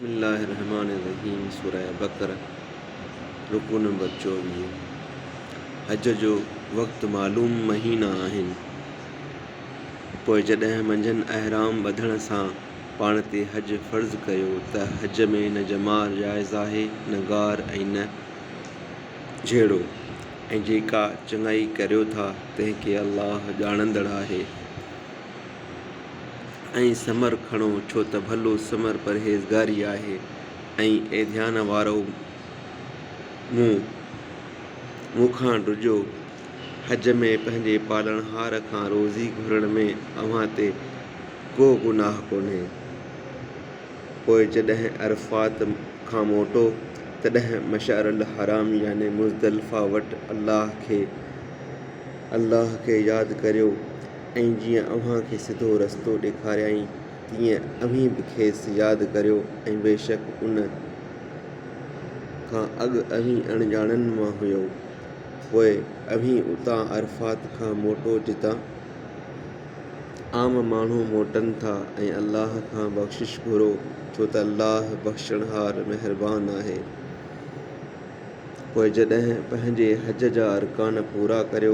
بسم الله الرحمٰن الرحيم سوره بقره رڪوع نمبر چوويهه حج جو وقت معلوم مهينا آهن پوء جڏهن منجهن احرام ٻڌڻ سان پاڻ تي حج فرض ڪيو ته حج ۾ نه جمار جائز آهي نه غار ۽ نه جهيڙو ۽ جيڪا چڱائي ڪريو ٿا تنهن کي الله ڄاڻندڙ آهي. ۽ سمر کڻو ڇو ته ڀلو سمر پرهيزگاري آهي ۽ اي ڌيان وارؤ مون مون کان ڊڄو حج ۾ پنهنجي پالڻهار کان روزي گهرڻ ۾ اوهان تي ڪو گناهه ڪونهي پوء جڏهن عرفات کان موٽو تڏهن مشعر الحرام يعني مزدلفه وٽ الله کي الله کي ياد ڪريو ۽ جيئن اوهان کي سڌو رستو ڏيکاريائين، تيئن اوهين به کيس ياد ڪريو ۽ بيشڪ ان کان اڳ اوهين اڻڄاڻن مان هيؤ. پوء اوهين اتان، عرفات کان، موٽو جتان عام ماڻهو موٽن ٿا ۽ الله کان بخشش گهرو، ڇو ته الله بخشڻهار مهربان آهي. پوء جڏهن پنهنجي حج جا ارڪان پورا ڪريو،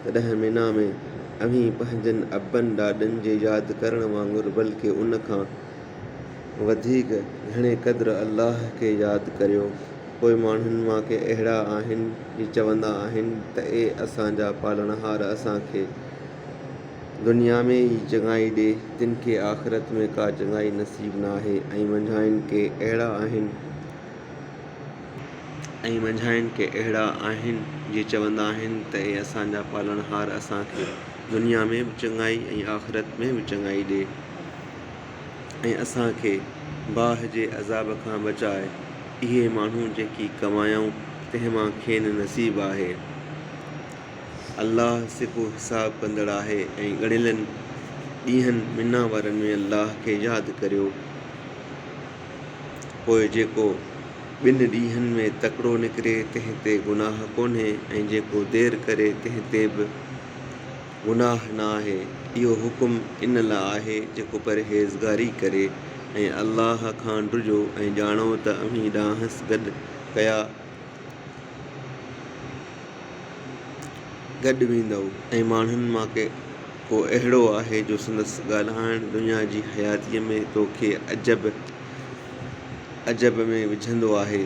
تڏهن منيٰ ۾ اوهين پنهنجن ابن ڏاڏن جي ياد ڪرڻ وانگر بلڪ ان کان وڌيڪ گهڻي قدر الله کي ياد ڪريو. پوء ماڻهن مان ڪي اهڙا آهن جي چوندا آهن ته اي اسان جا پالڻهار اسان کي دنيا ۾ ئي چڱائي ڏي، تن کي آخرت ۾ ڪا چڱائي نصيب ناهي ۽ منجهانئن ڪي اهڙا آهن، ۽ منجهانئن ڪي اهڙا آهن جي چوندا آهن ته اي اسان جا پالڻهار اسان کي دنيا ۾ به چڱائي ۽ آخرت ۾ به چڱائي ڏي ۽ اسان کي باهه جي عذاب کان بچاء اهي ماڻهو جيڪي ڪمايائون تنهن مان کين نصيب آهي الله سڪو حساب ڪندڙ آهي ۽ ڳڻيلن ڏينهن منا وارن ۾ الله کي ياد ڪريو پوء جيڪو ٻن ڏينهن ۾ تڪڙو نڪري تنهن تي گناهه ڪونهي ۽ جيڪو دير ڪري تنهن تي به گناهه نه آهي. اهو حڪم ان لاء آهي جيڪو پرهيزگاري ڪري ۽ الله کان ڊڄو ۽ ڄاڻو ته اوهين ڏانهس گڏ ڪيا گڏ ويندؤ ۽ ماڻهن مان ڪي ڪو اهڙو آهي جو سندس ڳالهائڻ دنيا جي حياتيء ۾ تو کي عجب عجب ۾ وجهندو آهي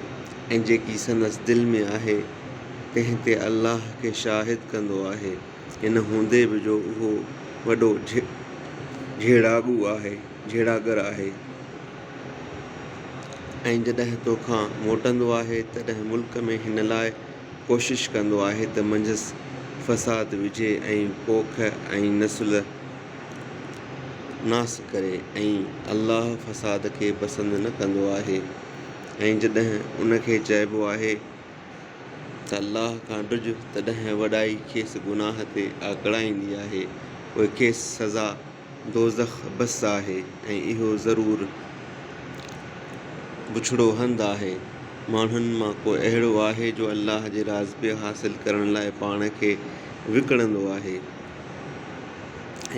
۽ جيڪي سندس دل ۾ آهي تنهن تي الله کي شاهد ڪندو آهي ان هوندي به جو اهو وڏو جهيڙاڳو آهي جهيڙاگر آهي ۽ جڏهن تو کان موٽندو آهي تڏهن ملڪ ۾ هن لاء ڪوشش ڪندو آهي ته منجهس فساد وجهي ۽ پوک ۽ نسل ناس ڪري ۽ الله فساد کي پسند نه ڪندو آهي ۽ جڏهن ان کي چئبو آهي ته الله کان ڊڄ تڏهن وڏائي کيس گناهه تي آڪڙائيندي آهي پوء کيس سزا دوزخ بس آهي ۽ اهو ضرور بڇڙو هنڌ آهي. ماڻهن مان ڪو اهڙو آهي جو الله جي راضپي حاصل ڪرڻ لاء پاڻ کي وڪڻندو آهي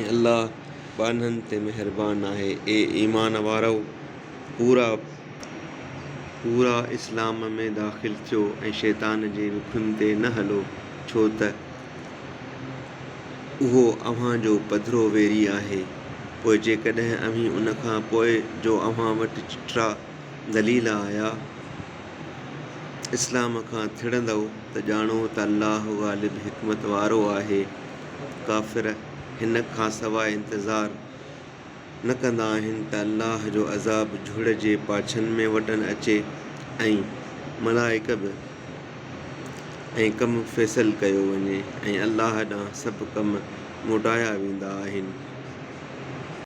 ۽ الله ٻانهن تي مهربان آهي. اي ايمان وارؤ! پورا پورا اسلام ۾ داخل ٿيو ۽ شيطان جي وکن تي نه هلو، ڇو ته اهو اوهان جو پڌرو ويري آهي، پوء جيڪڏهن اوهين ان کان پوء جو اوهان وٽ چٽرا دليل آيا، اسلام کان ٿڙندؤ ته ڄاڻو ته الله غالب حڪمت وارو آهي. ڪافر هن کانسواء انتظار. نه ڪندا آهن ته الله جو عذاب جهڙ جي پاڇن ۾ وٽن اچي ۽ ملائڪ به ۽ ڪم فيصل ڪيو وڃي ۽ الله ڏانهن سڀ ڪم موٽايا ويندا آهن.